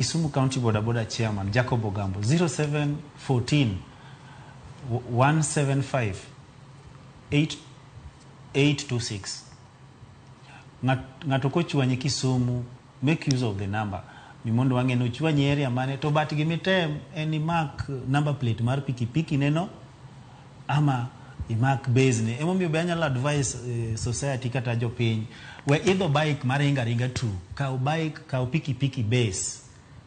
Kisumu County Boda Boda Chairman Jacob Ogambo 0714 175 8 826 Ng'at- ng'ato kochwanyi Kisumu make use of the number ni mondo wang'e ni ochwanyi area mane to but gimitem en imak number plate mar pikipiki neno ama imak base ni emomiyo be anyalo advise eh, society kata jopiny we idho bike maringa ringa tu kaw bike kaw pikipiki base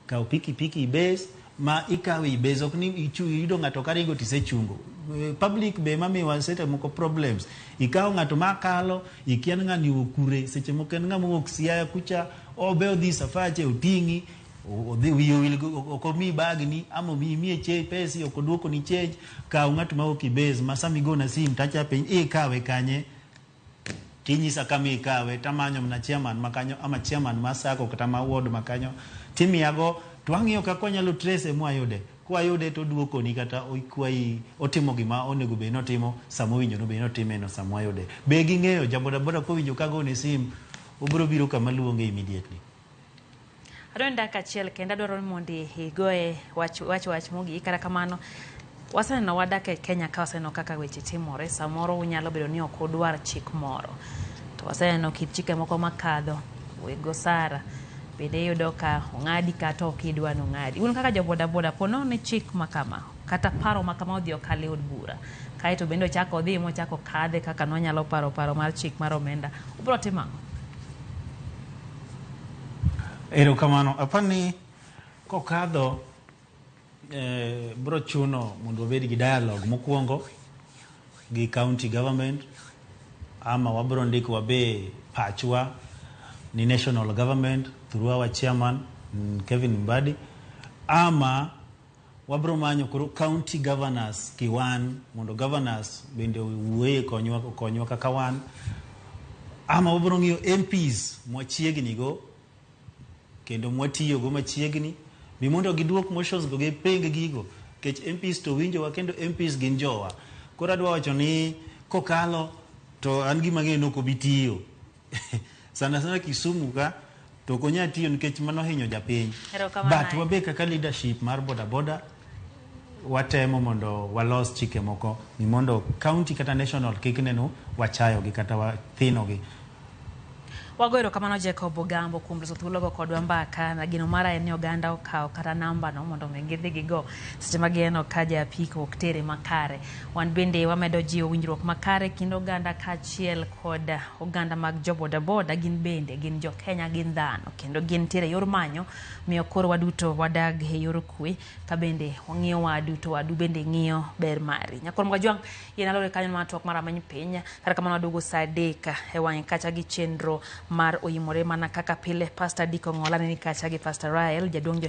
kaw pikipiki base ma ikawe ibase ok ni ichu yudo ng'ato karingo tisechungo Eh, public be mamiwa sete moko problems ikawo ng'ato makalo ikian ng'ani okure seche moko en ng'ama owuok siaya kucha obe odhi safache oting'i O- odhi wiye owil go- ok omiyi bagni ama omiyi imiye che- pesi ok oduokoni change kaw ng'at ma ok ibes ma sama igona sim tacha piny ikawe kanye tinyisa kama ikawe tamanyo mana chairman ma kanyo ama chairman ma sako kata ma ward ma kanyo timiyago to ang'iyo kaka wanyalo trace mwayude kwayude to oduokoni kata okwayi otimo gima onego bed ni otimo sama owinjo nobed ni otimeno sama wayude be ging'eyo jabodaboda kowinjo kagone sim obiro biro kama luonge immediately Adwa ni dakika achiel kendo adwaro ni mondo igoye wach wach wach mogik kata kamano waseneno wadak e Kenya ka waseneno kaka weche timore samoro unyalo bedo ni ok udwar chik moro to waseneno kit chike moko makadho weg osara bende iyudo ka ong'adi kata ok idwa ni ong'adi un kaka jo bodaboda po nono ni chik ma kama kata paro ma kama odhi okal e od bura kae to bende ochako odhi mochako kadhe kaka nwanyalo paro paro mar chik mar omenda ubiro timo ang'o Erokamano. Apar ni kokadho eh, bro chuno mondo wabed gi dialogue mokwongo gi county government ama wabro ndiko wabe pachwa ni national government through our chairman mm, Kevin Mbadi ama Wabro manyo koro county governors kiwan mondo governors bende owuoye konywa konywa kaka wan ama wabro ng'iyo MPs mwachiegni go kendo mwatiyo go machiegni mi mondo giduok motions go giping gigo kech MPs to winjowa kendo MPs gin jowa koro adwa wacho ni kokalo to an gima ng'eyo ni ok obi tiyo sana sana Kisumu ka to ok onyal tiyo nikech mano hinyo japiny. Erokamano But ahinya. wabe kaka leadership mar bodaboda watemo mondo walos chike moko ni mondo county kata national kik neno wachayogi kata wathinogi. Wago erokamano Jacob Ogambo kuom loso thuologo kodwa mbaka na geno mara en ni oganda okaw kata nambano mondo mi gidhi gigo seche ma gineno ka ja apiko ok tere makare. Wan bende wamedo jiwo winjruok makare e kind oganda kaachiel kod oganda mag jo bodaboda gin bende gin jo Kenya gin dhano kendo gin tiere yor manyo miyo koro waduto wadag e yor kwe ka bende wang'iyo wadu to wadu bende ng'iyo ber mari nyakoro mgajwang' yien alore kanyo mana twak mar amany piny kata kamano waduogo saa adek e wang'e kacha gi chenro mar oyimore mana kaka pile pastor diko ng'ola ne ni kacha gi pastor Rael jaduong' jo